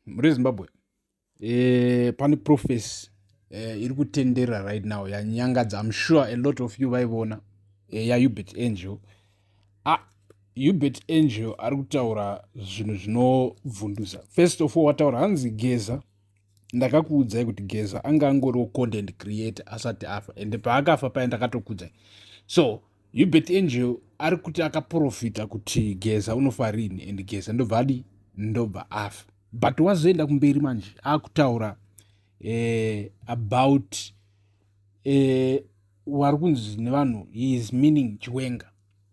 muri zimbabwe e, pane profesi e, eh, iri kutendera right now yanyangadza im sure a lot of you vaivona e, eh, yaubert angel ah, ubert angel ari kutaura zvinhu zvinobvundusa first of all wataura hanzi geza ndakakuudzai kuti geza anga angoriwo content creator asati afa ende paakafa paye ndakatokudzai so Hubert Angel ari kuti akaprofita kuti Geza unofa rini and Geza ndobva adi ndobva afa but wazoenda kumberi manje akutaura eh, about eh, wari kunzi nevanhu he is meaning chiwenga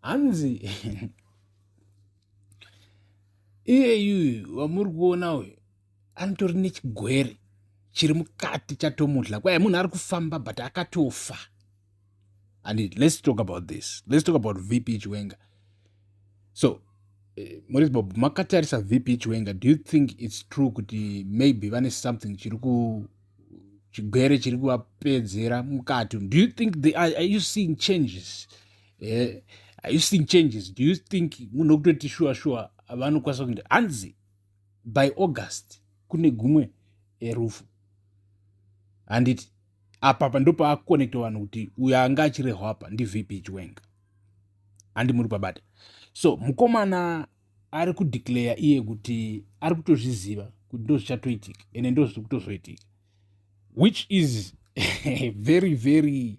hanzi iyeyuyu wamuri kuona uyu anotori nechigwere chiri mukati chatomudla kwaye munhu ari kufamba but akatofa and let's talk about this let's talk about vp chiwenga so eh, moris bob makatarisa vp chiwenga do you think it's true kuti maybe vane something chiri ku chigwere chiri kuvapedzera mukati do you think they are, are you seeing changes eh, are you seeing changes do you think munhu wekutoti shuwa shuwa vanokwanisa kuita hanzi by august kune gumwe eh, rufu handiti apapa ndopaakukonekta vanhu kuti uyo anga achirehwa apa ndivp chiwenga handi muri pabata so mukomana ari kudeclare iye kuti ari kutozviziva kuti ndozvichatoitika ende ndozviri kutozoitika which is very very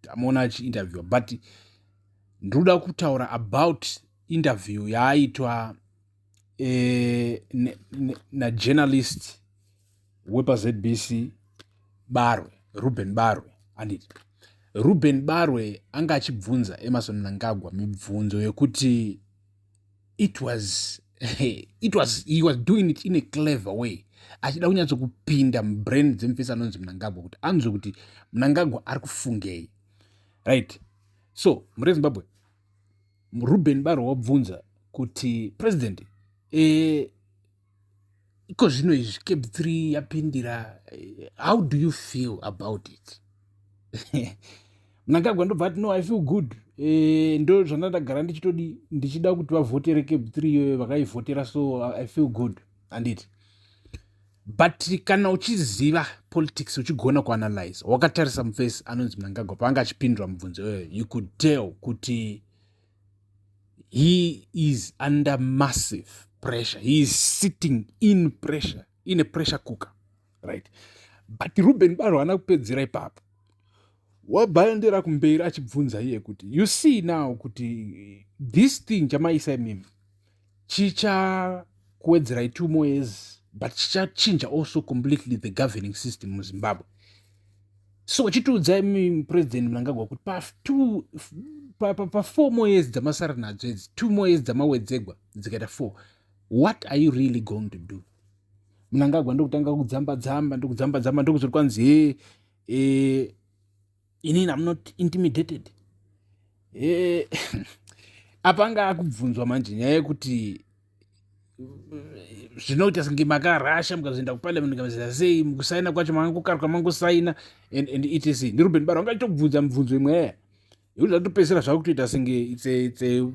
tamuona achiinterviewa but ndinoda kutaura about interview yaaitwa eh, najournalist ne, ne, wepazbc barwe ruben barwe anditi ruben barwe anga achibvunza emerson mnangagwa mibvunzo yekuti it was it was he was doing it in a clever way achida kunyatso kupinda mubrain dzemufesi anonzi munangagwa kuti anzwe kuti munangagwa ari kufungei right so mure zimbabwe ruben baro wabvunza kuti president e, iko zvino izvi cab 3 yapindira eh, how do you feel about it mnangagwa ndobva ati no i feel good eh, ndo zvandandagara ndichitodi ndichida kuti vavhotere cab 3 iyoyo vakaivhotera so i feel good anditi but kana uchiziva politics uchigona kuanalyze wakatarisa mufesi anonzi mnangagwa paanga achipindura mubvunzo iyoyo you could tell kuti he is under massive pressure he is sitting in pressure in a pressure cooker right but ruben baro haana kupedzera ipapo wabhandira kumberi achibvunza iye kuti you see now kuti this thing chamaisa imimi chichakuwedzerai two more years but chichachinja also completely the governing system muzimbabwe so chitiudzai mupresident mnangagwa kuti patwo pafour more years dzamasara nadzo idzi two more years dzamawedzegwa dzikaita four what are you really going to do mnangagwa ndokutanga kudzamba dzamba ndokudzamba dzamba ndokuzoti kwanzi hee eh, ini am not intimidated eh, apa anga akubvunzwa manje nyaya yekuti zvinoita senge makarasha mukazoenda kuparliament kamazita sei mukusaina kwacho manga kukarwa mangosaina and, and etc ndiruben baro anga chitokubvunza mibvunzo imwe yaya yekuti zvatopedzisira zvava kutoita senge it's a, it's a,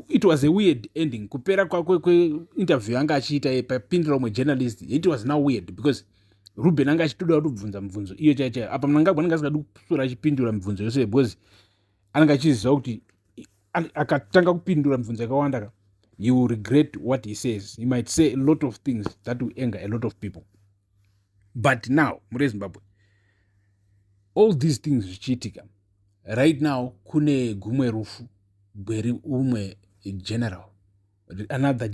it was a weird ending kupera kwakwe kweinterview yanga achiita ye papindira umwe journalist it was now weird because ruben anga achitoda kutobvunza mibvunzo iyo chai chai apa mnangagwa anenge asingadi kusora achipindura mibvunzo yose because anenge achiziva kuti akatanga kupindura mibvunzo yakawanda ka he will regret what he says he might say a lot of things that will anger a lot of people but now mure zimbabwe all these things zvichiitika right now kune gumwe rufu gweri umwe general another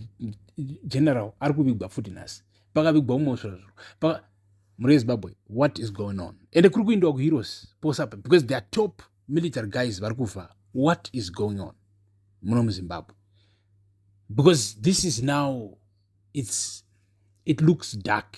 general ari kuvigwa futi nhasi pakavigwa umwe usvirazviro muri ezimbabwe what is going on ende kuri kuindiwa kuheroes posapa because their top military guys vari kufa what is going on muno muzimbabwe because this is now its it looks dark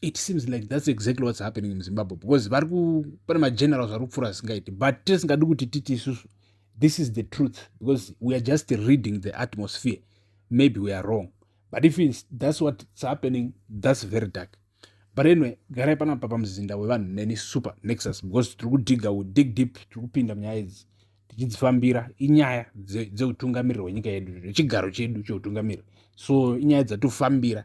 it seems like thats exactly whats happening muzimbabwe because vari pane magenerals vari kupfuura zvisingaiti but tisingadi kuti titi isusu this is the truth because we are just reading the atmosphere maybe we are wrong but if its, thats what's happening thats very dark but anyway garai panapa pamuzinda wevanhu neni super nexus because tiri kudhiga we dig deep tiri kupinda munyaya idzi tichidzifambira inyaya dzeutungamiriri hwenyika yedu nechigaro chedu cheutungamiriri so inyaya dzatofambira